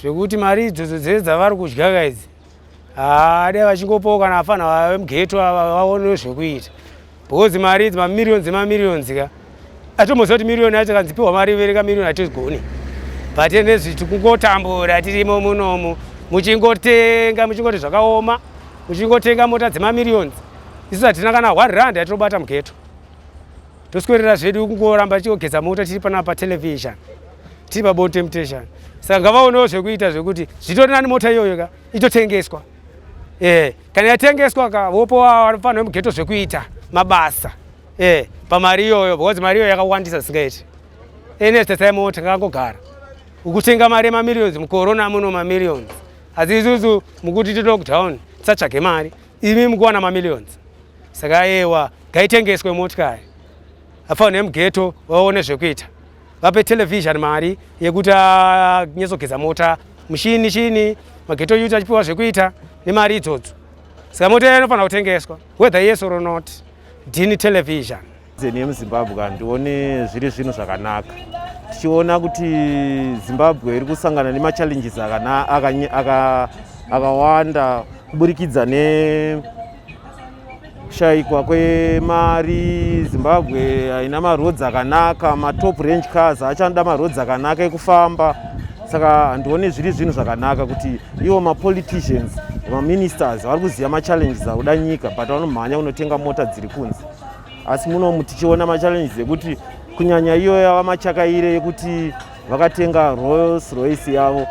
zvekuti mari idzodzo dzese dzavari kudyaka idzi haa dai vachingopawo kana vafana vave mugeto vaonewo zvekuita because mari idzi mamiriyoni dzemamiriyoni dzika atomboziva kuti miriyoni yacho kanzi piwa mari vereka miriyoni hatigoni but nezvi tikungotambura tirimo munomu muchingotenga muchingoti zvakaoma muchingotenga mota dzemamiriyoni isu hatina kana one rand yatinobata mugeto toswerera zvedu kungoramba tichigeza mota tiri panapa patelevision tiri pabon temptation saka ngavaonewo zvekuita zvekuti zvitori nani mota iyoyo ka itotengeswa e kana yatengeswa ka vopowa vanofanira mugeto zvekuita mabasa e pamari iyoyo because mari iyoyo yakawandisa zisingaiti ene sesai mota ngakangogara ukutenga mari yemamillions mukorona muno mamillions asi isusu mukuti tilockdown tisatsvage mari imi mukuwana mamillions saka ayewa ngaitengeswe motikari afawo nemugeto vaone zvekuita vape television mari yekuti anyatsogeza mota mushini chini mageto yuti achipiwa zvekuita nemari idzodzo saka mota iya inofanira kutengeswa whether yes or not dini television Zeni yemuZimbabwe handione zviri zvinhu zvakanaka tichiona kuti Zimbabwe iri kusangana nemachallenges akawanda kuburikidza nekushayikwa kwemari. Zimbabwe haina maroads akanaka, matop range cars achanoda maroads akanaka ekufamba. Saka handione zviri zvinhu zvakanaka kuti ivo mapoliticians, maministers vari kuziva machallenges akuda nyika but vanomhanya kunotenga mota dziri kunze. asi munomu tichiona machallenges ekuti kunyanya iyo yava machakaire yekuti vakatenga royals royce yavo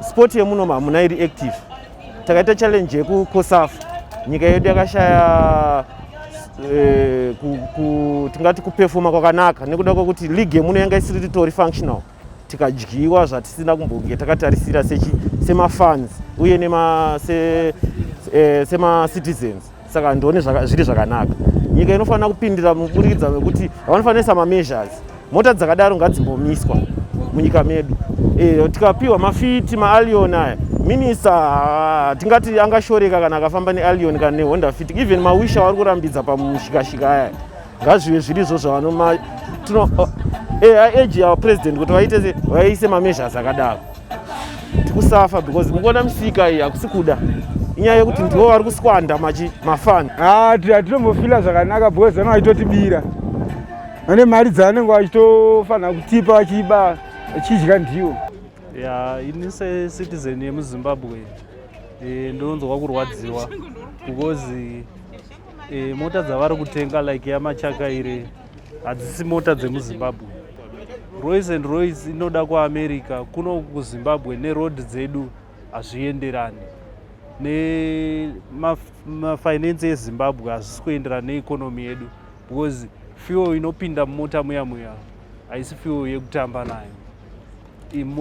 sport yemunomu hamuna iri active takaita challenge yekucosafu nyika yedu yakashaya eh, tingati kupefoma kwakanaka nekuda kwekuti league yemuno yanga isiri ritori functional tikadyiwa zvatisina kumbonge takatarisira semafans uye eh, semacitizens saka ndione zviri zvakanaka nyika inofanira kupindira muburikidza mekuti vanofanisa mameasures mota dzakadaro ngadzimbomiswa munyika medu eh, tikapiwa mafiti maalion aya minista ah, tingati angashoreka kana akafamba nealion kana nehonda fit even mawisha vari kurambidza pamushikashika aya ngazvive zvirizvo zvavanoma tino age eh, our president kuti vaite vaise mameasures akadaro tikusafa because mukuona misika iyi hakusi kuda inyaya yekuti ndivo vari kuswanda machi mafani hatinombofila ah, zvakanaka because vana vachitotibira vane mari dzavanenge vachitofanira kutipa vachiiba vachidya ndiwo ya ini secitizen yemuzimbabwe eh, ndinonzwa kurwadziwa because E, mota dzavari kutenga like yamachaka iri hadzisi mota dzemuzimbabwe roys and roys inoda kuamerica kuno kuzimbabwe neroad dzedu hazvienderani nemafinance ma ezimbabwe hazvisi kuenderana neekonomi yedu because fuel inopinda mumota muya muya haisi fuel yekutamba nayo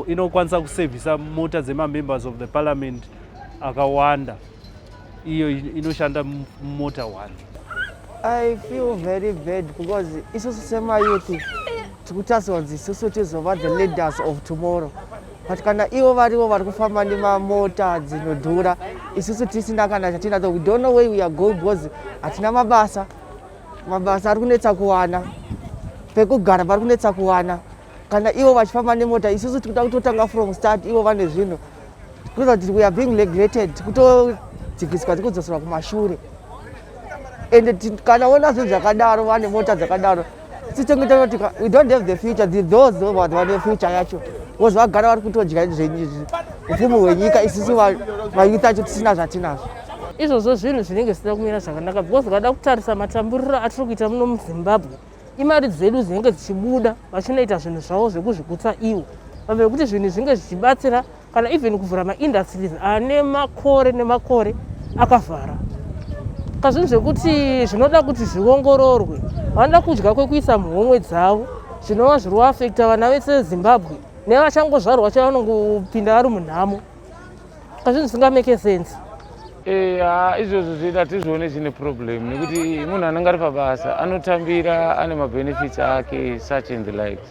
inokwanisa kusevhisa mota dzemamembers of the parliament akawanda iyo inoshanda mumota one i feel very bad because isusu semayouth tikutarisirwa kuti isusu tizova the leaders of tomorrow but kana ivo varivo vari kufamba nemamota dzinodhura isusu tisina kana chatinato we don't know way we are going because hatina mabasa mabasa ari kunetsa kuwana pekugara pari kunetsa kuwana kana ivo vachifamba nemota isusu tikuda kutotanga from start ivo vane zvinhu tikuza kuti weare being legrated kutodzikiswa tikudzoserwa kumashure ende kana vona zvinhu zvakadaro vane mota dzakadaro sitenge tanoti we don't have the future the those vanhu vane future yacho bcause vagara vari kutodya zvenyizvi upfumi hwenyika isusu vayouth acho tisina zvatinazvo izvozvo zvinhu zvinenge zvisina kumira zvakanaka because ukada kutarisa matamburiro atiri kuita muno muzimbabwe imari dzedu dzinenge dzichibuda vachinoita zvinhu zvavo zvekuzvigutsa ivo pamwe nekuti zvinhu zvinge zvichibatsira kana even kuvhura maindustries ane makore nemakore akavhara saka zvinhu zvekuti zvinoda kuti zviongororwe vanoda kudya kwekuisa muhomwe dzavo zvinova zviri kuafekta vana vese vezimbabwe nevachangozvarwa vacho vanongopinda vari munhamo pazvinhu zvisinga make sense eh, ha izvozvo zvedu hatizvione zvine problem nekuti munhu anenge ari pabasa anotambira ane mabenefits ake such and the likes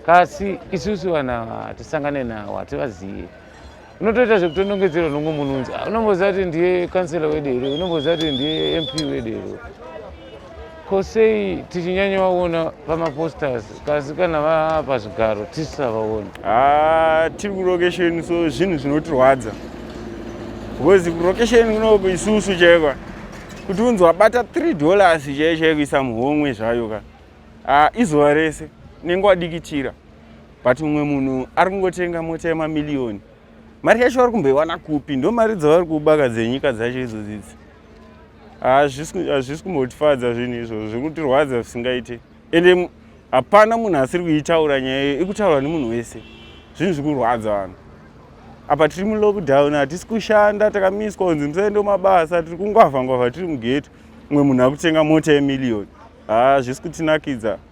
kasi isusu vanhu ava hatisangane nawo hativazive unotoita zvekutonongedzerwa nomwe munhu unzi ah, unomboziva kuti ndiye kansela wedero unomboziva kuti ndiye mp wedero ko sei tichinyanyavaona pamaposters kasi kana vaa pazvigaro tisisavaoni ah, tiri kulocation so zvinhu zvinotirwadza because kulocation kunoku isusu chaikwa kuti unzi wabata 3 dollars chaiye chaiye kuisa muhomwe zvayo ka ah, izuva rese nenge wadikitira but mumwe munhu ari kungotenga mota yemamiliyoni mari yacho vari kumboiwana kupi ndo mari dzavari kubaka dzenyika dzacho idzo dzidzi hazvisi kumbotifadza zvinhu izvozvo zviri kutirwadza zvisingaite ende hapana munhu asiri kuitaura nyaya iyo ikutaurwa nemunhu wese zvinhu zviri kurwadza vanhu apa tiri mulockdown hatisi kushanda takamiswa kunzi musaende mabasa tiri kungwavha ngwavha tiri mugeto umwe munhu akutenga mota yemiliyoni haa zvisi kutinakidza ah,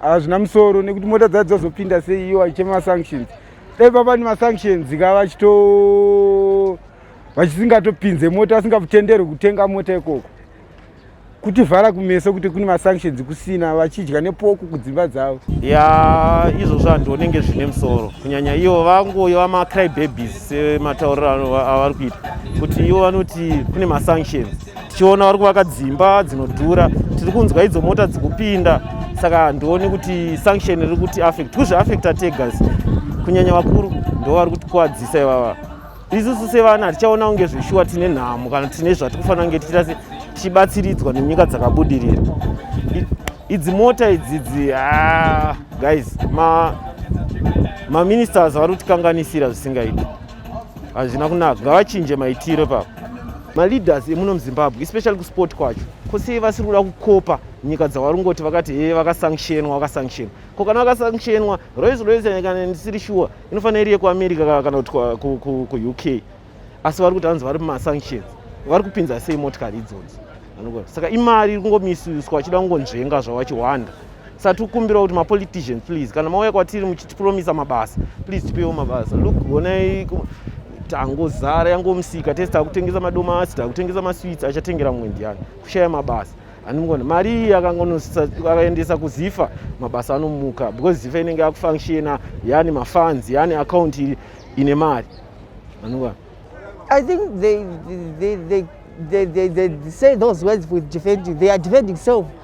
hazvina musoro nekuti mota dzacho dzazopinda sei iyo vachichema masanctions dai papa ni masanctions ka vachito vachisingatopinze mota vasingatenderwe kutenga mota ikoko kutivhara kumeso kuti kune masanctions kusina vachidya nepoko kudzimba dzavo ya izvozvo handionenge zvine musoro kunyanya ivo vangoyo vamacry babies sematauriro avari kuita kuti ivo vanoti kune masanctions tichiona vari kuvaka dzimba dzinodhura tiri kunzwa idzo mota dzikupinda saka handioni kuti sanction riri kuti affect kuzvi affecta tegas kunyanya vakuru ndo vari kutikuwadzisa ivava isusu sevana hatichaona kunge zveshuwa tine nhamo kana tine zvatikufanira kunge tichita se tichibatsiridzwa nenyika dzakabudirira idzi mota idzidzi ah, guys maministers ma vari kutikanganisira zvisingaiti hazvina kunaka ngavachinje maitiro ipapo maleaders emuno muzimbabwe especially kusport kwacho ko sei vasiri kuda kukopa nyika dzavari kungoti vakati hee vakasanctionwa vakasanctionwa ko kana vakasanctionwa rois rois kana ndisiri shuwa inofanira iri yekuamerica kana kuti kuuk asi vari kuti hanzi vari mumasanctions vari kupinza sei motikari idzodzo saka imari iri kungomisuswa achida kungonzvenga zvawachihwanda satikumbirawo kuti mapolitician please kana mauya kwatiri muchitipromisa mabasa please tipewo mabasa look honai tangozara yangomusika tese takutengesa madomasi takutengesa maswits achatengera mumwe ndiyani kushaya mabasa anongona mari iyi akaendesa kuzifa mabasa anomuka because zifa inenge yakufunctiona yani mafans yani akaunti ine mari anongona i think they, they, they, they, they, they say those words with defending they are defending self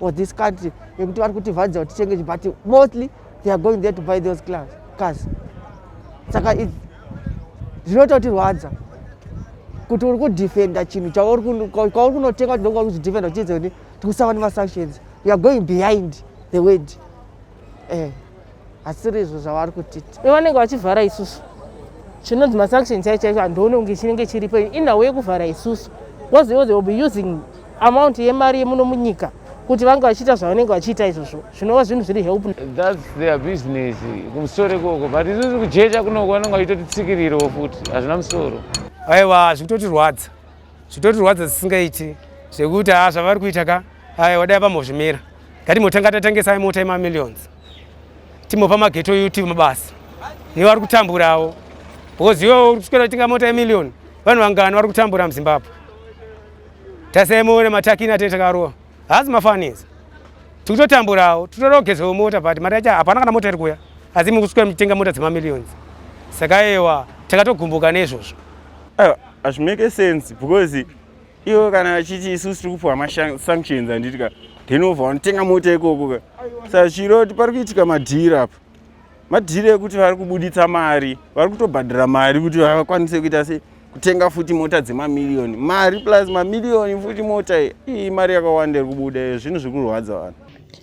or this country yekuti vari kutivhadzira kuti titenge but mostly they are going there to buy those class cars saka zvinoita kuti rwadza kuti uri kudefenda chinhu chauri kunotenga kuti ndokuva kuzidefenda uchiedza kuti tikusava nemasanctions youare going behind the word eh. asiri izvo zvavari kutiti ivo vanenge vachivhara isusu chinonzi masanction chai chaicho handione kunge chinenge chiripo inhawo yekuvhara isusu bcause ivo they will be using amount yemari yemuno munyika kuti vange vachiita zvavanenge vachiita izvozvo zvinova zvinhu zviri help thats their business kumusoro ikoko but isusu kujecha kunoko vanenge vachitoti tsikiriro futi hazvina musoro aiwa hazvikutotirwadza zvitotirwadza zvisingaiti zvekuti haa zvavari kuita ka aya wadai vambozvimira ngatimotanga tatengesa imota yemamillions timopa mageto youtube mabasa ivo vari kutamburawo because iwo uri kuswera tinga mota yemillion vanhu vangani vari kutambura muzimbabwe tasemuona matakina tete takarowa haasi mafanizi tikutotamburawo titorogezewo mota but mari yacho hapana kana mota iri kuya asi mukuswera muchitenga mota dzemamillions saka ewa takatogumbuka neizvozvo Ah, hazvimake sense because ivo kana vachiti isusu tiri kupiwa masanctions handiti ka then ova vanotenga mota ikoko ka sa chiro kuti pari kuitika madhiri apa madhiri ekuti vari kubuditsa mari vari kutobhadhara mari kuti vakwanise kuita se kutenga futi mota dzemamiriyoni mari plus mamiriyoni futi mota iyi mari yakawanda iri kubuda iyo zvinhu zviri kurwadza vanhu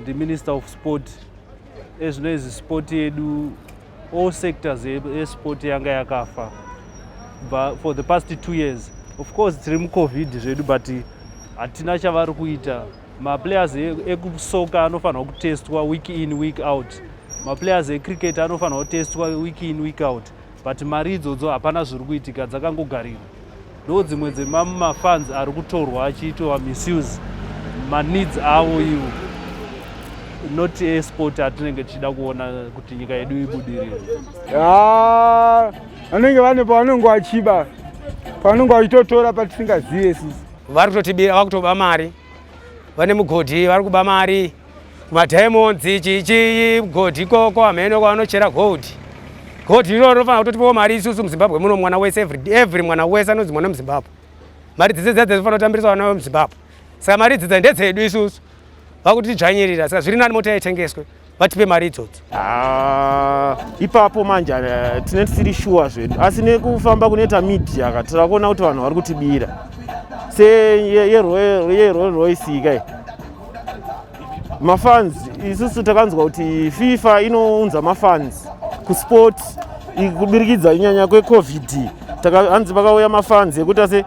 ndiminister of sport ezvinoizvi sport yedu all sectors yesport yanga yakafa but for the past two years of course tiri mucovid zvedu but hatina chavari kuita maplayers e, ekusoka anofanirwa kutestwa week in week out maplayers ecricket anofanirwa kutestwa week in week out but mari idzodzo hapana zviri kuitika dzakangogarira ndo dzimwe dzemamafans ari kutorwa achiitwa misuse maneeds avo ivo not esport atinenge tichida kuona kuti nyika yedu ibudirire vanenge vane pavanenge vachiba pavanenge vachitotora patisingazive sisi vari kutotibira vari kutoba mari vane mugodhi vari kuba mari Mademons chichi gold ikoko ameno kwanochera gold. Gold iro rinofana kutotipawo mari isusu muZimbabwe muno mwana wese every every mwana wese anonzi mwana muZimbabwe. Mari dzese dzadze dzinofanira kutambirisa vana vemuZimbabwe. Saka mari dzedza ndedzedu isusu. Vakuti tidzvanyirira saka zviri nani mota yaitengeswe vatipe mari idzodzo. Ah, ipapo manje eh, tine tisiri shuwa zvedu asi nekufamba kunoita media ka tira kuona kuti vanhu vari kutibira se yerolls royce kai mafans isusu takanzwa kuti fifa inounza mafans kusport kubirikidza inyanya kwecovid hanzi pakauya mafans ekuti ase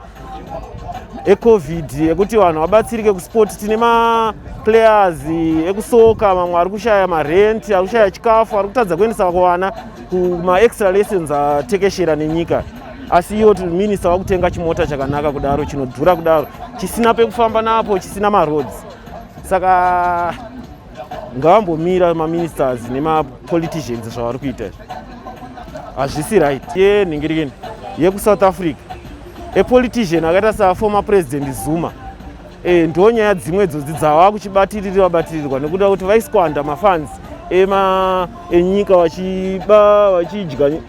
ecovid ekuti vanhu vabatsirike kusport tine maplayers ekusoka mamwe ari kushaya marent ari kushaya chikafu ari kutadza kuendesa vako vana kumaextra lessons atekeshera nenyika asi iwo minista vakutenga chimota chakanaka kudaro chinodhura kudaro chisina pekufamba napo chisina maroads saka ngavambomira maministers nemapoliticians zvavari kuita izvi hazvisi right ye nhingirikeni yekusouth africa epolitician akaita saformer president zuma e, ndo nyaya dzimwe idzodzi dzava kuchibatiriri vabatirirwa nekuda kuti vaiskwanda mafans ema enyika vachiba vachidya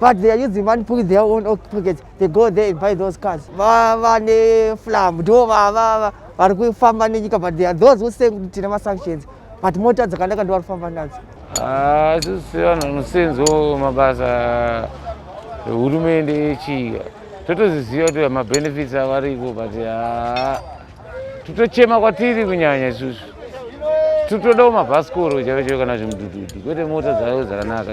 but they are using money put their own pockets they go there and buy those cars vava neflam ndo vava vari kufamba nenyika but they are those who say kuti tine masanctions but mota dzakanaka ndo vari kufamba nadzo ah, isusu vanhu vanosenzo mabasa ehurumende yechika totoziziva kuti mabenefits avariko but ah, totochema kwatiri kunyanya isusu totodawo mabhasikoro chaivo chaivo kana zvimudududu kwete mota dzavo dzakanaka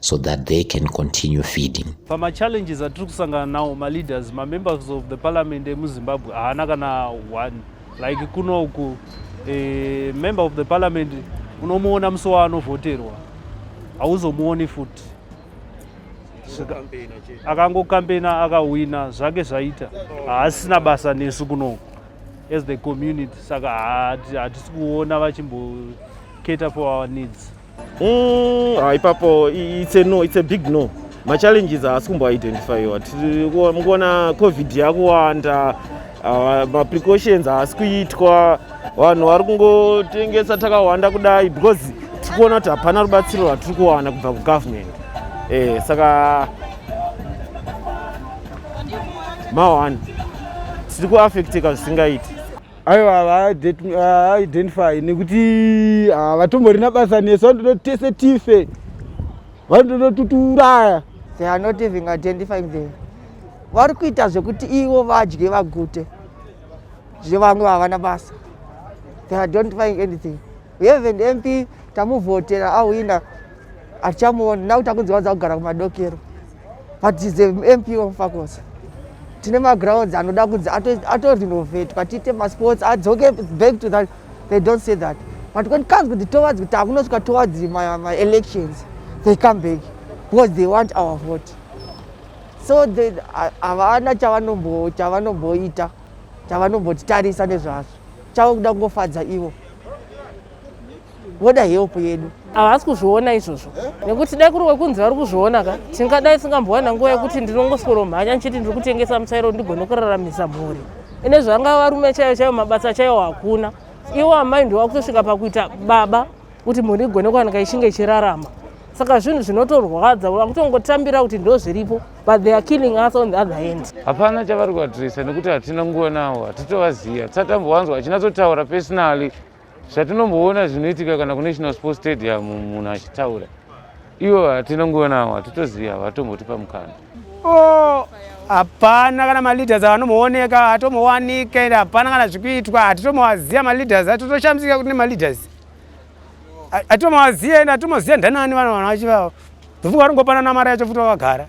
so that they can continue feeding. Pama challenges atiri kusangana nawo ma leaders ma members of the parliament emu Zimbabwe haana kana one like kuno uku a member of the parliament unomuona musi waanovhoterwa hauzomuoni futi akangokampena akahwina zvake zvaita haasina basa nesu kunoku as the community saka hatisi kuona vachimboketa for our needs Mm, ah, ipapo it's a no, it's a big no. Ma challenges haasi kumbo identifyiwa. Mukuona covid yakuwanda, ah, ma precautions haasi kuitwa, vanhu vari kungotengesa takawanda kudai because tiri kuona kuti hapana rubatsiro rwatiri kuwana kubva kugovernment. Eh, saka mawani tiri kuaffecteka zvisingaiti. aiwa havaidentify nekuti havatomborina basa nesu vanotoda tese tife vanotoda tutiuraya they are not even identifying them vari kuita zvekuti ivo vadye vagute zvevamwe havana basa they are identifying anything We have an MP tamuvhotera awina hatichamuoni now takunziwa dzakugara kumadokero but is a MP of Fakosa. Tine magrounds anoda kunzi ato renovate but ite masports adzoke back to that they don't say that but when it comes to the towards kuti akunosvika towards my, my elections they come back because they want our vote so havana chavanomboita chavanombotitarisa nezvazvo chavo kuda kungofadza ivo voda help yedu havasi kuzviona izvozvo nekuti dai kuri wekunzi vari kuzviona ka tingadai singambowana nguva yekuti ndinongoswero mhanya ndichiti ndiri kutengesa muchairo ndigone kuraramisa mhuri ine zvanga varume chaiyo chaiyo mabasa chaiyo hakuna iwo amai ndiwakutosvika pakuita baba kuti mhuri igone kuwanika ichinge ichirarama saka zvinhu zvinotorwadza vakutongotambira kuti ndo zviripo but they are killing us on the other hand hapana chavari kuvatirisa nekuti hatina nguva nawo hatitovaziva tisatambovanzwa achinatsotaura personally zvatinomboona zvinoitika kana kunational sport stadium munhu achitaura ivo hatina nguva nawo hatitoziva havatombotipa mukana oh, hapana kana maleaders avanombooneka hatombowanika ende hapana kana zvikuitwa hatitomovaziva maleaders atotoshamisika kuti nemaleaders atomaziya ende atomaziya ndanani vana vana vachi vavo ndofunga varingopana namari yacho futi vakagara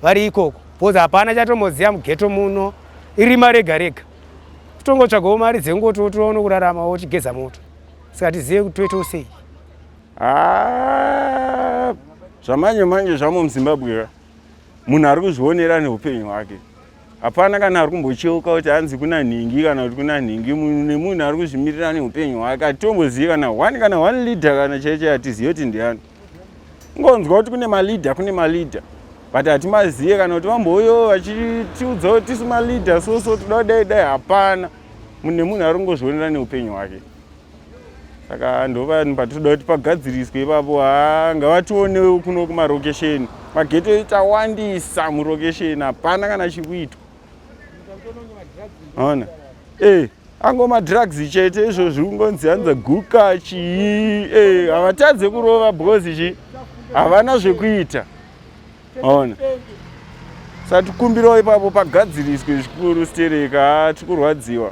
vari ikoko bcause hapana chatomoziya mugeto muno irima rega rega kutongotsvagawo mari dzengoti wotoona kurarama wochigeza moto saka tizive kuti toitawo sei ah, zvamanje manje zvamo muzimbabwe munhu ari kuzvionera neupenyu hwake hapana kana ari kumbocheuka kuti hanzi kuna nhingi kana kuti kuna nhingi munhu nemunhu ari kuzvimirira neupenyu hwake hatitombozivi kana one kana one leader kana chaichai hatizivi kuti ndiani ngonzwa kuti kune maleader kune maleader but hatimazive kana kuti vambouyo vachitiudza kuti tisu maleader soso toda kudai dai hapana munhu nemunhu ari kungozvionera neupenyu hwake saka ndovanhu patinoda kuti pagadziriswe ipapo ha ngavationewo kuno kumarokesheni mageto ita wandisa murokesheni hapana kana chikuitwa ona e eh, ango madrugs chete izvo zviri kungonzi hanza guka chii e havatadze kurova because chi havana zvekuita ona satikumbirawo ipapo pagadziriswe zvikuru stereka tikurwadziwa